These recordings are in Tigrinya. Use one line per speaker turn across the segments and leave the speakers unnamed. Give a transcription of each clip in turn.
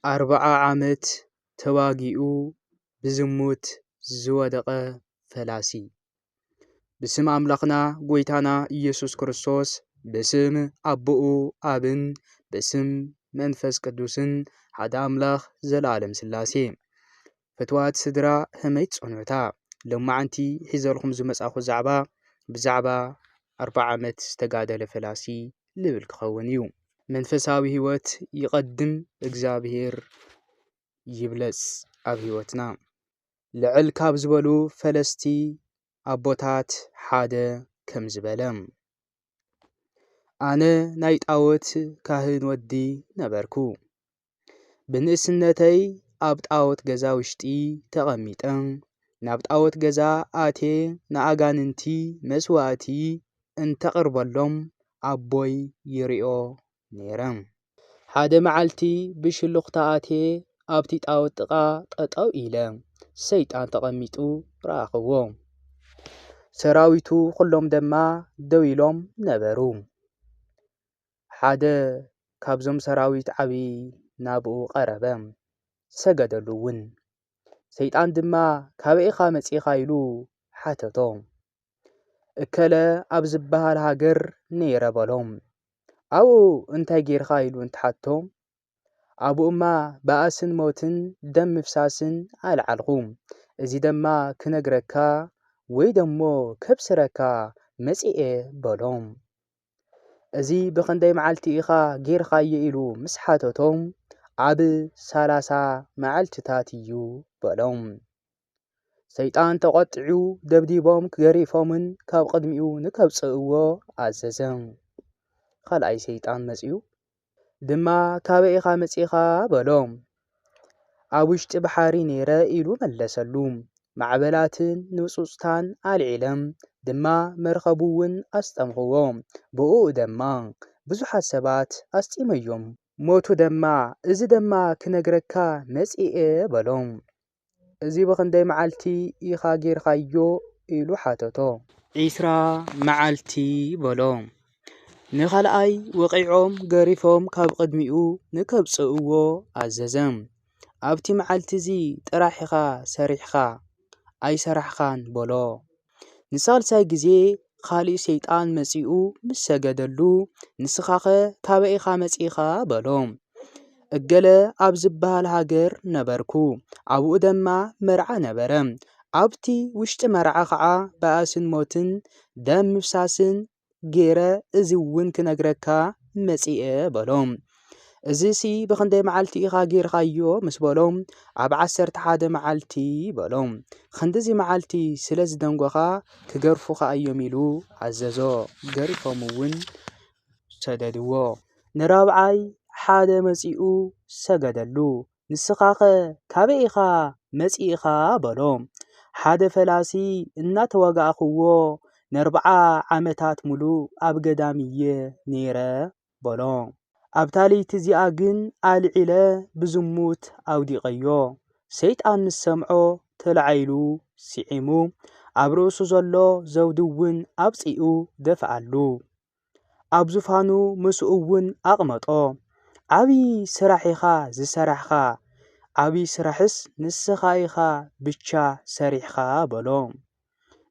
ኣርብዓ ዓመት ተዋጊኡ ብዝሙት ዝወደቐ ፈላሲ። ብስም ኣምላኽና ጎይታና ኢየሱስ ክርስቶስ ብስም ኣቦኡ ኣብን ብስም መንፈስ ቅዱስን ሓደ ኣምላኽ ዘለዓለም ሥላሴ። ፍትዋት ስድራ ህመይ ትጸንሑታ ሎማዓንቲ ሒዘልኹም ዝመጻኹ ዛዕባ ብዛዕባ ኣርብዓ ዓመት ዝተጋደለ ፈላሲ ልብል ክኸውን እዩ። መንፈሳዊ ህይወት ይቐድም እግዚኣብሔር ይብለጽ ኣብ ህይወትና። ልዕል ካብ ዝበሉ ፈለስቲ ኣቦታት ሓደ ከም ዝበለ። ኣነ ናይ ጣዎት ካህን ወዲ ነበርኩ። ብንእስነተይ ኣብ ጣዖት ገዛ ውሽጢ ተቐሚጠ ናብ ጣዖት ገዛ ኣቴ ንኣጋንንቲ መስዋእቲ እንተቕርበሎም ኣቦይ ይሪኦ ነይረ። ሓደ መዓልቲ ብሽሉኽታ ኣቴ ኣብቲ ጣዖት ጥቓ ጠጠው ኢለ ሰይጣን ተቐሚጡ ረኣኽዎ። ሰራዊቱ ኩሎም ደማ ደው ኢሎም ነበሩ። ሓደ ካብዞም ሰራዊት ዓብዪ ናብኡ ቐረበ፣ ሰገደሉውን። ሰይጣን ድማ ካበይ ኢኻ መጺእኻ ኢሉ ሓተቶ። እከለ ኣብ ዝበሃል ሃገር ነይረ በሎ። ኣብኡ እንታይ ጌርካ ኢሉ እንትሓቶ ኣብኡማ ባእስን ሞትን ደም ምፍሳስን ኣልዓልኹ እዚ ደማ ክነግረካ ወይ ደሞ ከብስረካ መጺኤ በሎ። እዚ ብኽንደይ መዓልቲ ኢኻ ጌርኻዮ ኢሉ ምስ ሓተቶ ኣብ ሰላሳ መዓልትታት እዩ በሎም። ሰይጣን ተቖጢዑ ደብዲቦም ገሪፎምን ካብ ቕድሚኡ ንከብጽእዎ ኣዘዘ። ኻልኣይ ሰይጣን መጺኡ ድማ ካበይ ኢኻ መጺእኻ? በሎ። ኣብ ውሽጢ ባሕሪ ነይረ ኢሉ መለሰሉ። ማዕበላትን ንጹጽታን ኣልዒለም ድማ መርከቡ'ውን ኣስጠምኹዎ። ብእኡ ደማ ብዙሓት ሰባት ኣስጢመዮም። ሞቱ ደማ። እዚ ደማ ክነግረካ መጺኤ በሎ። እዚ ብኽንደይ መዓልቲ ኢኻ ጌርካዮ? ኢሉ ሓተቶ። ዒስራ መዓልቲ በሎ። ንኻልኣይ ወቒዖም ገሪፎም ካብ ቕድሚኡ ንከብጽእዎ ኣዘዘ። ኣብቲ መዓልቲ'ዚ ጥራሕ ኢኻ ሰሪሕካ። ኣይሰራሕኻን በሎ። ንሳልሳይ ግዜ ኻልእ ሰይጣን መጺኡ ምስ ሰገደሉ፣ ንስኻኸ ካበይ ኢኻ መጺእካ? በሎ። እገለ ኣብ ዝበሃል ሃገር ነበርኩ፣ ኣብኡ ደማ መርዓ ነበረ። ኣብቲ ውሽጢ መርዓ ኸዓ ባእስን ሞትን ደም ምፍሳስን ገይረ እዚ እውን ክነግረካ መጺኤ በሎ። እዝሲ ብኽንደይ መዓልቲ ኢኻ ጌርኻዮ ምስ በሎ ኣብ ዓሰርተ ሓደ መዓልቲ በሎ። ኽንድዚ መዓልቲ ስለ ዝደንጎኻ ክገርፉኻ እዮም ኢሉ ኣዘዞ። ገሪፎም እውን ሰደድዎ። ንራብዓይ ሓደ መጺኡ ሰገደሉ። ንስኻኸ ካበይ ኢኻ መጺእኻ? በሎ። ሓደ ፈላሲ እናተዋጋእኽዎ ነርብዓ ዓመታት ምሉእ ኣብ ገዳም እየ ነይረ በሎ። ኣብታ ለይቲ እዚኣ ግን ኣልዒለ ብዝሙት ኣውዲቐዮ። ሰይጣን ምስ ሰምዖ ተላዒሉ ስዒሙ፣ ኣብ ርእሱ ዘሎ ዘውዲ እውን ኣውጺኡ ደፍኣሉ። ኣብ ዙፋኑ ምስኡ እውን ኣቕመጦ። ዓብዪ ስራሕ ኢኻ ዝሰራሕኻ፣ ዓብዪ ስራሕስ ንስኻ ኢኻ ብቻ ሰሪሕኻ በሎ።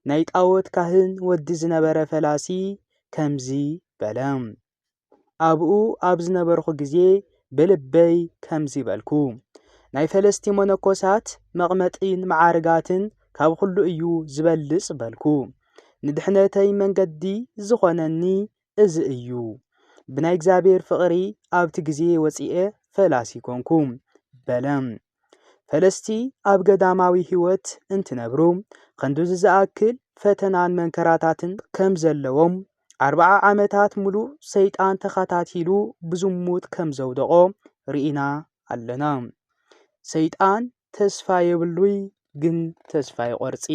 ናይ ጣዖት ካህን ወዲ ዝነበረ ፈላሲ ከምዚ በለ፣ ኣብኡ ኣብ ዝነበርኹ ግዜ ብልበይ ከምዚ በልኩ፣ ናይ ፈለስቲ መነኮሳት መቕመጢን መዓርጋትን ካብ ኹሉ እዩ ዝበልጽ በልኩ። ንድሕነተይ መንገዲ ዝኾነኒ እዚ እዩ። ብናይ እግዚኣብሔር ፍቕሪ ኣብቲ ግዜ ወጺኤ ፈላሲ ኮንኩ። በለ። ፈለስቲ ኣብ ገዳማዊ ሕይወት እንትነብሩ ኸንዱዚ ዝኣክል ፈተናን መንከራታትን ከም ዘለዎም ኣርባዓ ዓመታት ምሉእ ሰይጣን ተኸታቲሉ ብዙሙት ከም ዘውደቖ ርኢና ኣለና። ሰይጣን ተስፋ የብሉይ ግን ተስፋ ይቆርጺ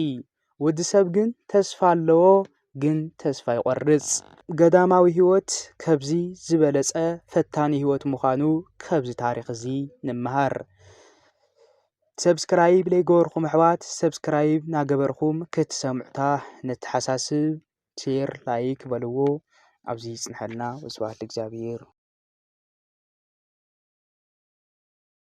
ወዲ ሰብ ግን ተስፋ ኣለዎ ግን ተስፋ ይቆርጽ ገዳማዊ ህይወት ከብዚ ዝበለጸ ፈታኒ ህይወት ምዃኑ ከብዚ ታሪኽ እዚ ንመሃር። ሰብስክራይብ ለይገበርኹም ኣሕዋት ሰብስክራይብ ናገበርኹም ክትሰምዑታ ነተሓሳስብ ሼር ላይክ በልዎ ኣብዚ ይጽንሐልና ወስብሓት ለእግዚኣብሄር።